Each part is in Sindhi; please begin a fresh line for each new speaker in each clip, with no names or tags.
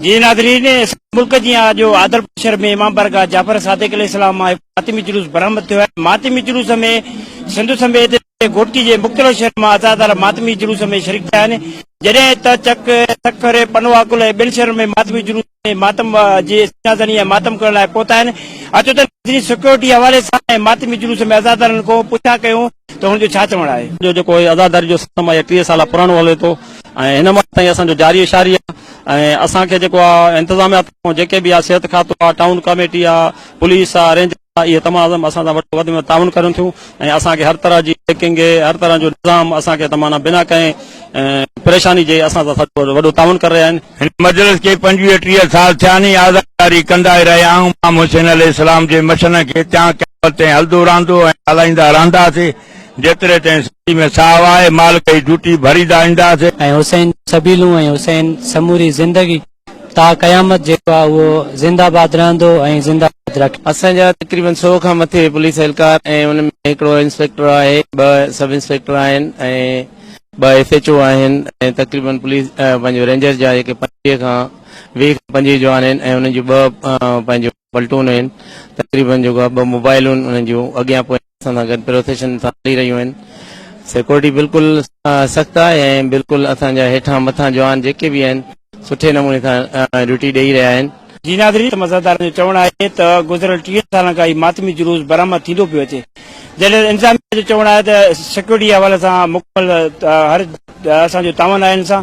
جي ناظرين
سڄي ملڪ جيان اڄ عادلپور شھر ۾ امام بارگاھ جعفر صادق عليه السلام مان هڪ ماتمي جلوس برآمد ٿيو آهي ماتمي جلوس ۾ سنڌ سميت گهوٽڪي جي مختلف شهرن مان عزادار ماتمي جلوس ۾ شريڪ ٿيا آهن جڏهن ته چڪ سکر پنواڪل ۽ ٻين شهرن ۾ ماتمي جلوس ۾ ماتم جي سڃا زني ۽ ماتم ڪرڻ لاء پهتا آهن اچو ته سڪيورٽي حوالي سان ماتمي جلوس ۾ عزادارن کان پڇا ڪيون ته هن جو ڇا چوڻ آهي. جو جيڪو هي عزاداري جو
سسٽم آهي اهي ٽيهه سال پراڻو هلي ٿو ۽ هن وقت تائين اسان جو جاري شاري آهي ۽ اسان کي جيڪو آ انتظاميا طرفان جيڪي به آ صحت کاتو آ ٽائون ڪاميٽي آ پوليس آ رينجر آ اهي تمام اسان سان وڏو وڌ ۾ وڌ تعاون ڪرين ٿيون ۽ اسان کي هر طرح جي چيڪنگ هر طرح جو نظام اسان کي تمام بنا ڪنهن پريشاني جي اسان سان وڏو تعاون ڪري رهيا آهن. هن مجلس کي
پنجويهه ٽيهه سال ٿيا آهن ۽ آزاد جاري ڪندائي رهيا آهيون. امام حسين عليه السلام جي مشن کي تيان قيامت تائين هلدو رهندو ۽ هلائيندا رهنداسي جيتري تائين سري ۾ ساهه آهي مالڪ جي جوٽي ڀريندا اينداسي. ۽ حسين جون
سبيلون ۽ حسين سموري زندگي تا قيامت جيڪو آهي اهو زنده باد رهندو ۽ زنده باد رکي. اسان جا تقريبن سؤ
کان مٿي پوليس اهلڪار ۽ ان ۾ هڪڙو انسپيڪٽر آهي ٻه سب انسپيڪٽر آهن ۽ ٻه ايس ايڇ او آهن ۽ تقريبن پوليس پنهنجو رينجر جا جيڪي پنجويهه کان ويهه کان پنجويهه جوان آهن ۽ انهن جون ٻه پنهنجو پلٽون آهن تقريبن جيڪو آهي ٻه موبائلون انهن جون اڳيان پويان اسان سان گڏ پروسيشن سان هلي رهيون آهن سيڪورٽي بلڪل سخت آهي ۽ بلڪل اسان جا هيٺان مٿان جوان جيڪي به آهن سٺي نموني سان ڊيوٽي ڏئي رهيا آهن. جي ناظرين ته مزادارن
جو چوڻ آهي ته گذريل ٽيهن سالن کان هي ماتمي جلوس برآمد ٿيندو پيو اچي جڏهن انتظاميه جو چوڻ آهي ته سيڪيورٽي جي حوالي سان مڪمل هر اسان جو تعاون آهي ان سان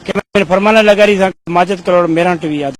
ڪيمرا مين فرمان لغاري سان ماجد ڪلهوڙو ميران ٽي وي آداب.